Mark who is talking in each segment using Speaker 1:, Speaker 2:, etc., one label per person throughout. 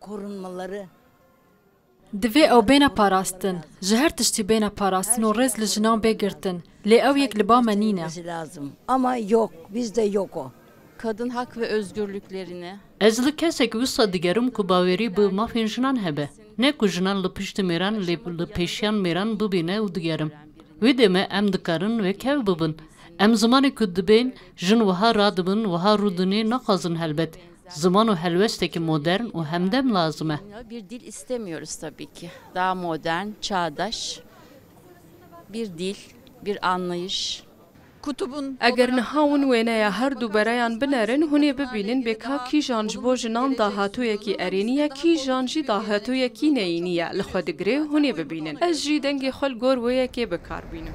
Speaker 1: Korunmaları.
Speaker 2: Divê ew bêne parastin. Ji her tiştî bêne parastin û rêz li jinan bê girtin. Lê ew yek li ba me nîne. Ama
Speaker 1: yok, bizde yok o. Kadın hak ve
Speaker 3: özgürlüklerini. Ez li kesek
Speaker 4: wisa digerim ku bawerî bi mafên jinan hebe. Ne ku jinan li piştî mêran lê li pêşiyan mêran bibîne û digerim. Wê demê em dikarin wekhev bibin. Em zimanê ku dibên jin wiha radibin, wiha rûdinê naxwazin helbet. Ziman û helwesteke modern û hemdem lazim e. Bir dil istemiyoruz
Speaker 3: tabii ki. Daha modern, çağdaş bir dil, bir anlayış.
Speaker 5: Eger niha hûn wêneya her du bereyan binerin, hûn ê bibînin bê ka kîjan ji bo jinan dahatoyekî erênî ye, kîjan jî dahatoyekî neyînî ye li xwe digire, hûn ê bibînin. Ez jî dengê xwe li gor wê yekê bikar bînim.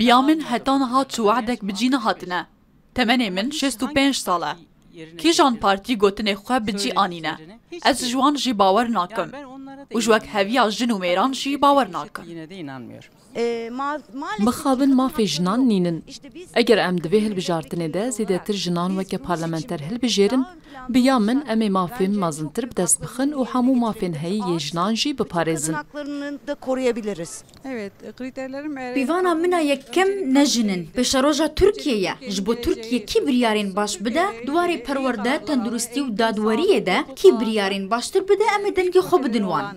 Speaker 6: Biya min heta niha
Speaker 7: çi wehdek bi cî nehatine. Temenê min şêst û pênc sal e. Kîjan partî gotinê xwe bi cî anîne? Ez ji wan jî bawer nakim. Û ji wek heviya jin û mêran jî bawer nakim.
Speaker 2: Mixabin mafê jinan nîn in. Eger em di vê hilbijartinê de zêdetir jinan weke parlamenter hilbijêrin, Bi ya min em ê mafên mezintir bi dest bixin û hemû mafên heyî yê jinan jî biparêzin.
Speaker 6: Pîvana min a
Speaker 8: yekem ne jin in. Pêşeroja Tirkiyê ye. Ji bo Tirkiye kî biryarên baş bide di warê perwerde, tenduristî û dadweriyê de kî biryarên baştir
Speaker 6: bide
Speaker 8: em ê dengê
Speaker 6: xwe
Speaker 8: bidin wan.